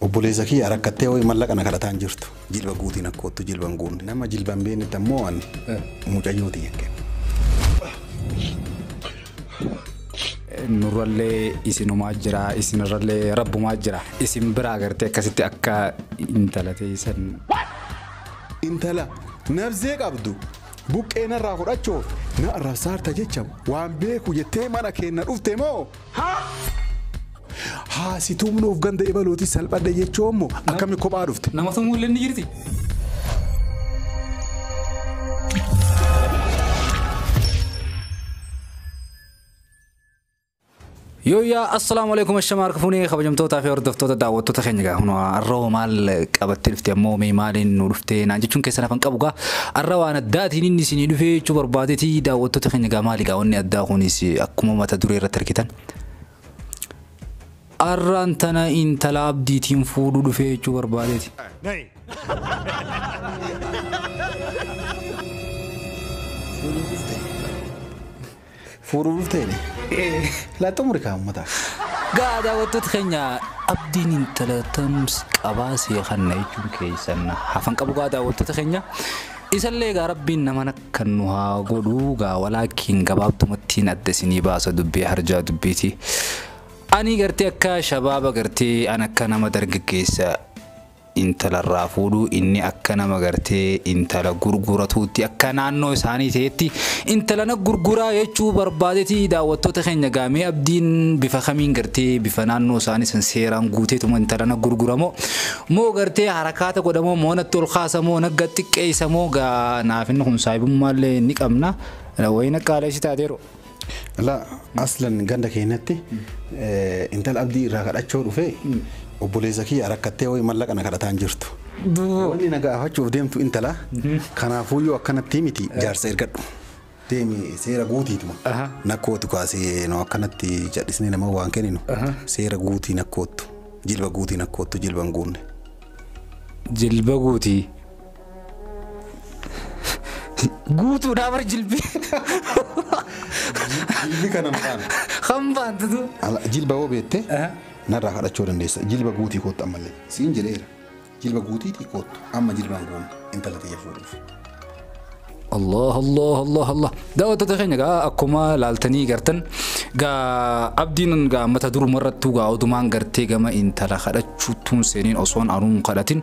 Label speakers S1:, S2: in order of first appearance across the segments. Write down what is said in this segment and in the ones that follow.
S1: Obboleessa kiyya rakkattee hoo'i mallaqa na kadhataa hin jirtu. Jilba guutii na koottu jilba hin guunne. Nama jilba hin beeknetti ammoo an mucayyoo tiyya hin kennu.
S2: Nurrallee isinumaa jira isinirrallee rabbumaa jira. Isin biraa gartee akkasitti akka intala teessan.
S1: Intala nabzee qabdu buqqee narraa fudhachuuf na arrabsaarta jecha waan beeku jettee mana keenna dhufte moo? Haa si tumnu of ganda ebalootis salphadhe jechuu ammoo akkami kophaa dhufte. Nama tumuu illee ni jirti.
S2: Yooyyaa assalaamu alaikum ashama harka fuunee kabajamtootaa fi hordoftoota daawwattoota keenya gaa hunaa arroo maal qabattee dhufte ammoo mee maaliin nu dhufte naan jechuun keessan hafan qabu gaa Arra waan addaatiin inni isinii dhufee jechuu barbaadeti daawwattoota keenya egaa maali egaa wanni addaa kunis akkuma mata duree irratti argitan. Arraan tana intala abdiitiin fuudhuu dhufee jechuu barbaadeti.
S1: Fuudhu dhufteeni? Laa xumuri kaa ummata. Egaa
S2: daawwattoota keenya Abdiin intala Tams qabaa sii kanna jechuun keessan hafan qabu gaa daawwattoota keenya. Isallee egaa rabbiin naman akkan nu haa godhu gaa walaakiin gabaabdumattiin adda isinii baasa dubbii harjaa dubbiiti. Ani gartee akka shabaaba gartee an akka nama dargaggeessa intala irraa fuudhu inni akka nama gartee intala gurguratuutti akka naannoo isaanii ta'etti intala na gurguraa jechuu barbaadeti daawwattoota keenya gaamee abdiin bifa kamiin gartee bifa naannoo isaanii san seeraan guuteetuma intala na gurguramoo moo gartee harakaata godhamoo moo natti ol kaasamoo nagga xiqqeessamoo gaa naaf inni kun saahibummaallee ni qabna wayina qaaleessi taateeru. Ala
S1: aslan ganda keenyatti intala abdii irraa kadhachoo dhufee obboleessa kiyya rakkattee wayii mallaqa na kadhataan jirtu. Wanni na gaafachuuf deemtu intala kanaafuu yoo akkanatti miti jaarsa ergadhu. Deemi seera guutiituma. Nakkootu kaasee nu akkanatti cadhisnee nama waan kenninu seera guutii nakkoottu jilba guutii nakkoottu jilba hin guunne.
S2: Jilba guutii. Guutuudhaa bar jilbii.
S1: Jilbi kana maqaan. Kan baantutu.
S2: Ala- Jilba yoo beekte
S1: Aha. narraa kadhachuu dandeessa. Jilba guutii koottu ammallee. Siin jedheera. Jilba guutiitii koottu amma jilbaan goona intala tiyya fuudhuuf.
S2: Allah Allah Allah Allah daawwattoota keenya gaa akkuma laaltanii gartan gaa abdiin gaa mata duruma irrattuu gaa odumaan gartee gama intala kadhachuuttuun seeniin osoon anuun kadhatin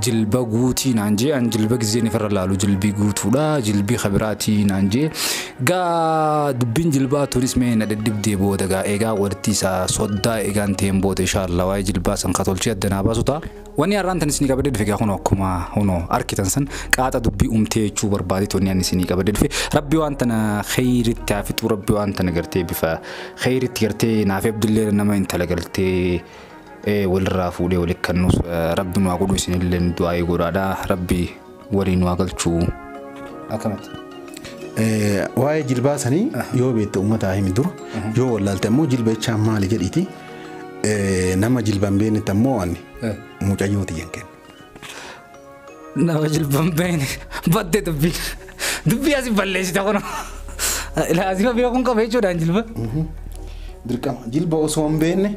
S2: jilba guutii naan jee an jilba gizeen ifirra laalu jilbii guutuudha jilbii kabiraatii naan jee gaa dubbiin jilbaa tunis mee na dhidhibdee booda gaa eegaa walitti isaa soddaa eegaan ta'een booda inshaallah waa'ee jilbaa san katolchee addanaa baasu ta'a. Wani har'aan tan isinii qabadee dhufe gaa kunoo akkuma hunoo arkitan san qaaxa dubbii umtee jechuu barbaadee tonni ani isinii qabadee dhufe rabbi waan tana kheyritti haa fixuu rabbi waan tana gartee bifa kheyritti gartee naaf abdillee nama intala galtee walirraa fuudhee walitti kannuus rabbi nu haa godhu isinillee du'aa'ee godhaadha rabbi waliin waa galchuu. Akkamatti.
S1: Waa'ee jilbaa sanii yoo beekte uummataa himi dura yoo wallaalte ammoo jilba jechaa maali jedhiiti nama jilba hin beeknetti ammoo waan mucayyoo tiyyan kenna. Nama
S2: jilba hin beekne baddee dubbii dubbii asi balleessita kun laazima beekuun qaba jechuudhaan jilba.
S1: Dirqama jilba osoo hin beekne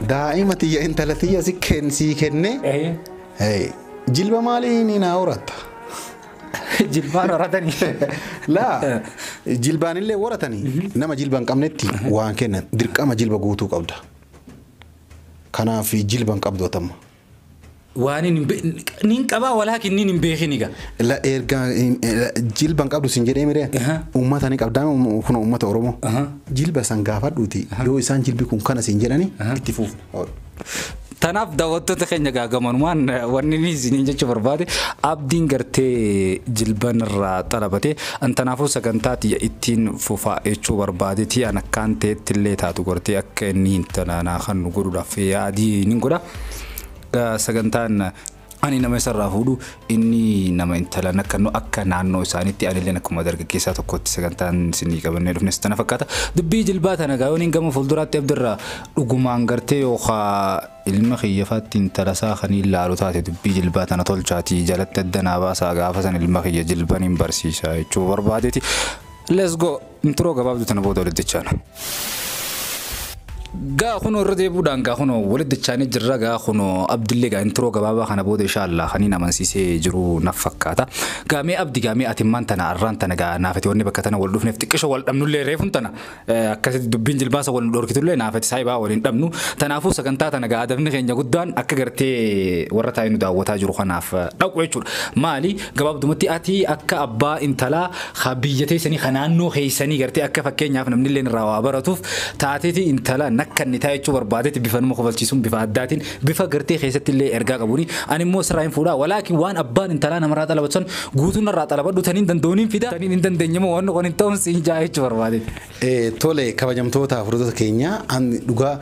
S1: daa'ima tiyya intala tiyya si kennee. Hey, jilba maalii ni naa horatta?
S2: Jilbaan horatanii. Laa
S1: jilbaan illee horatanii nama jilba hin qabnetti waan kennan dirqama jilba guutuu qabda. Kanaaf jilba hin qabdu atamma. Waan
S2: hin be- nin qabaa walaakin nin hin beekin egaa. La erga
S1: jilba hin qabdu sin jedhee miree Aha. uummata ni qabdaa kun uummata Oromoo. Aha. Jilba san gaafadhuuti yoo isaan jilbi kun kana sin jedhani Aha. itti fuuf.
S2: Tanaaf daawwattoota keenya egaa gamanumaan wanni inni isiniin jechuu barbaade abdiin gartee jilban irraa xalabate an tanaafuu sagantaa tiyya ittiin fufaa jechuu barbaadeti an akkaan ta'etti illee taatu gartee akka inni hin tanaanaa kan nu godhuudhaaf yaadii nin godha sagantaan Ani nama isarraa fuudhu inni nama intala nakkannu akka naannoo isaaniitti anilleen akkuma dargaggeessaa tokkotti sagantaan isinii qabannee dhufne sittana fakkaata. Dubbii jilbaa tana gaa yooniin gama fuulduraatti abdirraa dhugumaan gartee yookaa ilma kiyyafaatti intalasaa kaniin laalu taate dubbii jilbaa tana tolchaatii jalatti adda naa baasaa gaafa san ilma kiyya jilban hin barsiisa jechuu barbaadeeti. Let's go! Intiroo gabaabduu tana booda walitti dachaana. Gaa kunoo irra deebuudhaan gaa kunoo walitti dachaanii jirra gaa kunoo abdillee gaa intiroo gabaabaa kana booda inshaallah kaniin amansiisee jiru naf fakkaata. Gaa mee abdi gaa mee ati immaan tana arraan tana gaa naafati wanni bakka tana wal dhufneef xiqqisho wal dhabnullee reefun tana eh, akkasitti dubbiin jilbaasa wal nu dhorkitullee naafati saayibaa wal hin dhabnu. Tanaafuu sagantaa tana gaa adabni keenya guddaan akka gartee warra taa'ee nu daawwataa jiru kanaaf eh, dhaqu jechuudha. Maali gabaabdumatti ati akka abbaa intalaa Ka biyya teessanii, ka naannoo keessanii gartee akka fakkeenyaaf namnilleen irraa waa baratuuf taateeti intala nakkannitaa jechuu barbaadeeti bifa nama kofalchiisuun bifa addaatiin bifa gartee keessattillee ergaa qabuuni ani immoo sirraa hin fuudhaa walaakin waan abbaan intalaa namarraa xalabatu san guutuu narraa xalabadhu taniin danda'uun hin fida taniin hin dandeenye immoo wanni kun hin ta'uun siin ja'a jechuu barbaadeeti. Tole kabajamtoota
S1: hordoftoota keenya an dhugaa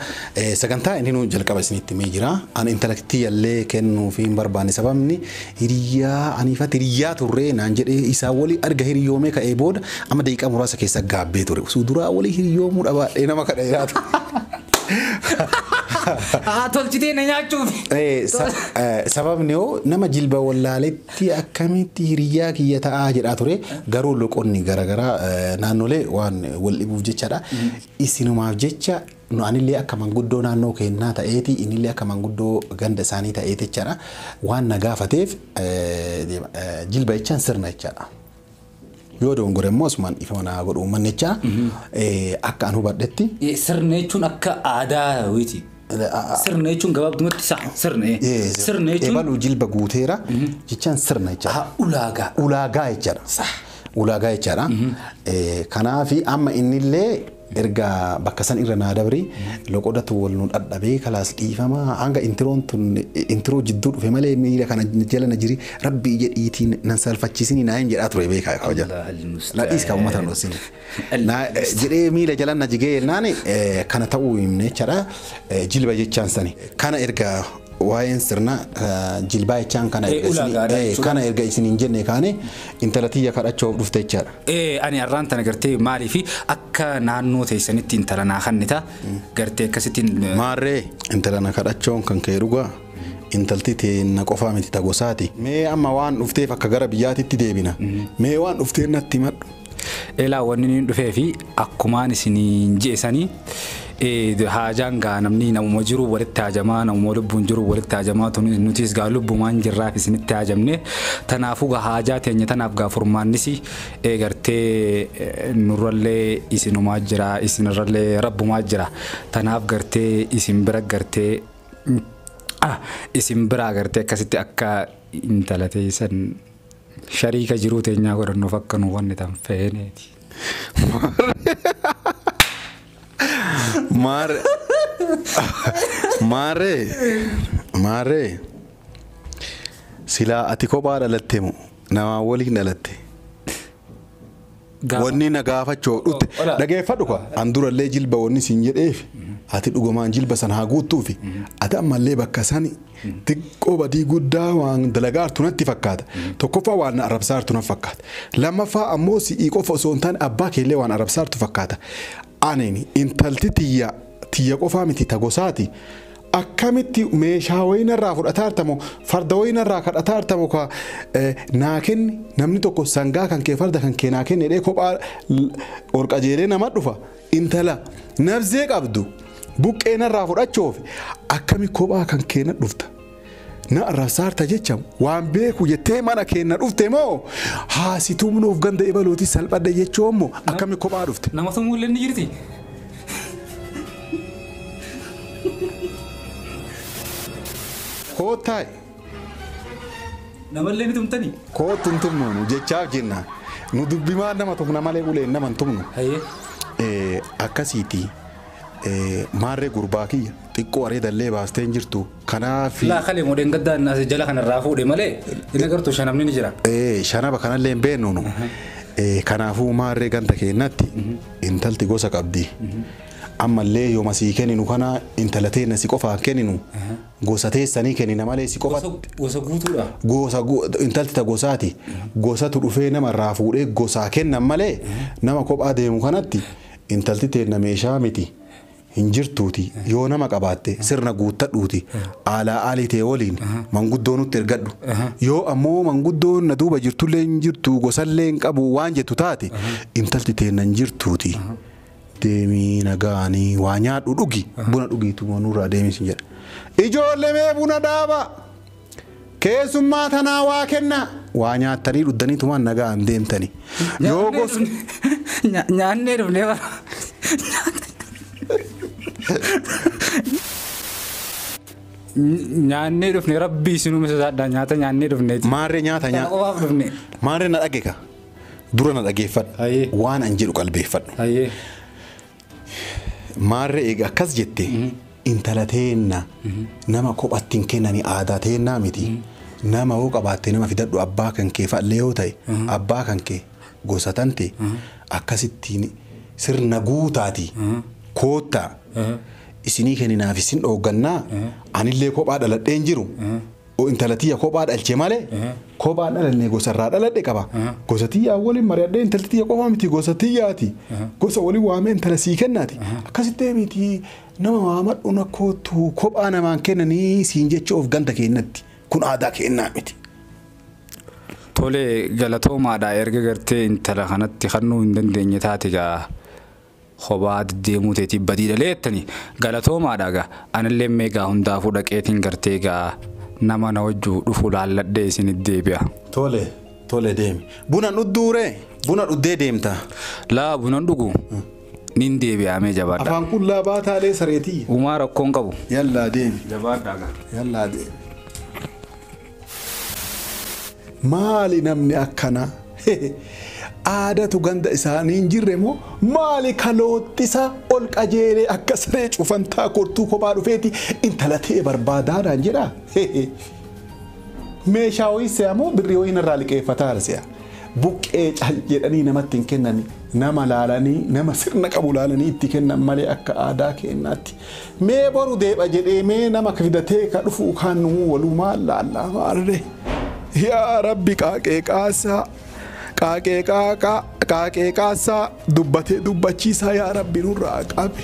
S1: sagantaa inni nuun jalqaba isinitti himee jira. An intala tiyyallee kennuu fi hin barbaanne sababni hiriyyaa aniifatti hiriyyaa turree naan jedhee isaa walii arga hiriyoomee ka'ee booda amma daqiiqaa muraasa keessa gaabbee ture. Osoo duraa walii hiriyoomuu dhabaadhee nama kana jiraatu.
S2: Haa tolchitee na nyaachuuf.
S1: Sababni hoo nama jilba wallaaletti tti akkamitti hiriyyaa kiyya ta'aa jedhaa ture garuu loqonni garagaraa naannolee waan wal dhibuuf jechadha isinumaaf jecha nu anillee akka manguddoo naannoo keennaa ta'eeti inillee akka manguddoo ganda isaanii ta'eeti jechadha waan na gaafateef jilba jechaan sirna jechadha. Yoo dogongore immoo asumaan dhiifama naa godhu uummannichaa akka an hubadhetti. Sirna jechuun akka
S2: aadaa wayiiti. Sirna jechuun gabaabdumatti isaa sirna. Sirna jechuun. Ebaluu jilba guuteera
S1: jechaan sirna jechaadha. Ulaagaa. Ulaagaa
S2: jechaadha.
S1: Ulaagaa jechaadha. Kanaaf amma innillee Erga bakka san irra naa dabri loqodatu wal nu dhadhabee kalaas dhiifama hanga intiroon tun intiroo jidduu dhufe malee miira kana jala na jiri rabbii jedhiitiin nan salfachiisini naayin jedhaa ture beekaa kaa hojjata. Allaahil na mustaan. dhiis kaa uummata na dhossine. Na Allaahil mustaan. jedhee miila jala na jigee jennaan eh, kana ta'uu himne jechaadha eh, jilba jechaan sani. Kana erga waa'een sirna eh, jilbaa jechaan kana Eh, erga isinii- ulaagaadha eh, jechuudha. kana erga isiniin jenne kaane intala tiyya kadhachuuf dhufte jechaadha. Ee ani arraan tana
S2: gartee maaliif akka naannoo teessanitti intala naa kannita gartee akkasittiin eh, Maarree
S1: intala na kadhachoon kan kee dhugaa intalti teenna qofaa miti ta gosaati. Mee amma waan dhufteef akka gara biyyaatitti deebina. Mee waan dhufteen natti himadhu. elaa wanni
S2: niin dhufee fi akkumaan isiniin je'esanii Ee haajaan gaa namnii namuma jiruu walitti haajamaa namuma lubbuun jiruu walitti haajamaa tunis nutiis gaa lubbumaan jirraaf isinitti haajamne tanaafuu gaa haajaa teenya tanaaf gaa furmaannisi ee gartee nurrallee isinumaa jira isinirrallee rabbumaa jira tanaaf gartee isin bira gartee ah isin biraa gartee akkasitti akka intala teessan shariika jiruu teenyaa godhannuuf akka nu wanni tan feeneeti. Maare.
S1: Maare. Maare. Silaa ati kophaa dhalatte moo namaa waliin dhalatte. Gaafa- Wanni na gaafachoo dhutte Ola. dhageeffadhu kwa an durallee jilba wanni siin jedheef ati dhugumaan jilba san haa guuttuufi ati ammallee bakka sani Xiqqoo badii guddaa waan dalagaa jirtu natti fakkaata. Tokkoffaa waan na arrabsaa jirtu natti fakkaata. Lammaffaa ammoo si'ii qofa osoo hin taane abbaa keellee waan arrabsaa jirtu fakkaata. Anini intalti tiyya tiyya qofaa miti ta gosaati. Akkamitti meeshaa wayii narraa fudhataa jirta moo farda wayii narraa kadhataa jirta moo ka eh, naa kenni namni tokko sangaa kan kee farda kan kee naa kenni jedhee kophaa l- ol qajeelee nama dhufa. Intala nabzee qabdu buqqee narraa fudhachoof akkami kophaa kan kee na dhufta na arrabsaarta jecha waan beeku jettee mana kee na dhufte moo haa si tumnuuf ganda ebaluuti salphadhe jechuun moo akkami kophaa dhufte. Nama tumuu illee ni jirti. Koottaay.
S2: Namallee ni tumtanii? Koottu hin tumnu nu
S1: jechaaf jenna. Nu dubbimaan nama tumna malee uleen nama hin tumnu. Hayee. Akkasiiti maarree gurbaa kiyya xiqqoo areedallee baastee hin jirtu kanaaf. Laa kalee moo dheengaddaa
S2: inni as jala kanarraa fuudhe malee hin agartu shanabni ni jira. Ee shanaba kanallee
S1: hin beeknu nu. Ee, Kanaafuu maarree ganda keennatti intalti gosa qabdi. Ammallee yooma sii kenninu kana intala teenna si qofaan kenninu. Gosa teessanii kennina malee si qofa. Gosa gosa guutuudha.
S2: Gosa gu-
S1: intalti ta gosaati. Gosatu dhufee nama irraa fuudhee gosaa kennan malee nama kophaa deemu kanatti intalti teenna meeshaa miti. Hin jirtuuti yoo nama qabaatte sirna guuttadhuuti aalaa aalii tee waliin manguddoo nutti ergadhu. Yoo ammoo manguddoon na duuba jirtullee hin jirtu gosallee hin qabu waan jettu taate intalti teenna hin jirtuuti. deemi nagaani waa nyaadhu dhugi buna dhugiituma nurraa deemi sin jedha ijoolle mee buna dhaaba keessummaa tanaa waa kenna waa nyaattanii dhuddanii tumaan nagaan deemtani yoo gos Nyaannee
S2: dhufnee bara. Nyaannee dhufne rabbii isinuu misasaadhaa nyaata nyaannee dhufneeti. maarree nyaata Kana nyaa qofaaf
S1: dhufne. maarree na dhageka Dura na dhageeffadhu. Hayyee. Waan an jedhu qalbeeffadhu. Hayyee. Maarree eega akkas jette intala teenna nama kophatti hin kennani aadaa teennaa miti. Nama hoo qabaatte nama fidadhu abbaa kan kee fa'allee yoo ta'e abbaa kan kee gosa tante akkasittiin sirna guutaati koottaa isinii kenninaaf isin dhooggannaa anillee kophaa dhaladheen jiru Intala tiyya kophaa dhalche malee kophaa dhalanne gosa irraa dhaladhe qaba. Gosa tiyyaa waliin mari'adhee intalti tiyya qofaa miti gosa tiyyaati. Gosa waliin waamee intala sii kennaati. Akkasitti miti nama waamadhu na kootu kophaa namaan kennanii siin jechuuf ganda keennatti. Kun aadaa keennaa miti. Tole
S2: galatoomaadha erga gartee intala kanatti kannuu hin dandeenye taate gaa. Kobaa deddeemuu teetiif badii dhalee jettanii? Galatoomaadha egaa. Anilleen mee egaa hundaafuu dhaqeetiin gartee egaa nama na wajju dhufu laalladhee isinit deebi'a. Tole, tole
S1: deemi. Buna hin dhudduu ree? Buna dhuddee deemtaa? Laa buna hin
S2: dhugu. Nin deebi'aa mee jabaadhaa. Afaan qullaa baataa lee
S1: saree tiyya. Umaa rakkoo hin qabu.
S2: Yallaa deemi.
S1: Jabaadhaa egaa. Yallaa
S2: deemi.
S1: Maali namni akkana hehe aadatu ganda isaanii hin jirre moo maali ka looxxisa ol qajeelee akka saree cufantaa kortuu kophaa dhufeeti intala ta'e barbaadaa naan jedha hehe meeshaa ho'i se'a moo birrii ho'i narraa liqeeffataa se'a buqqee cal jedhanii namatti hin kennani nama laalanii nama sirna qabu laalanii itti kennan malee akka aadaa keenyaatti Mee boru deebha jedhee mee nama kfidatee ka dhufuu kaan numuu waluumaan laallaa maarree yaa rabbi qaaqee qaasaa qaaqee qaaqaa qaaqee qaasaa dubbatee dubbachiisaa yaa rabbi nurraa qabi.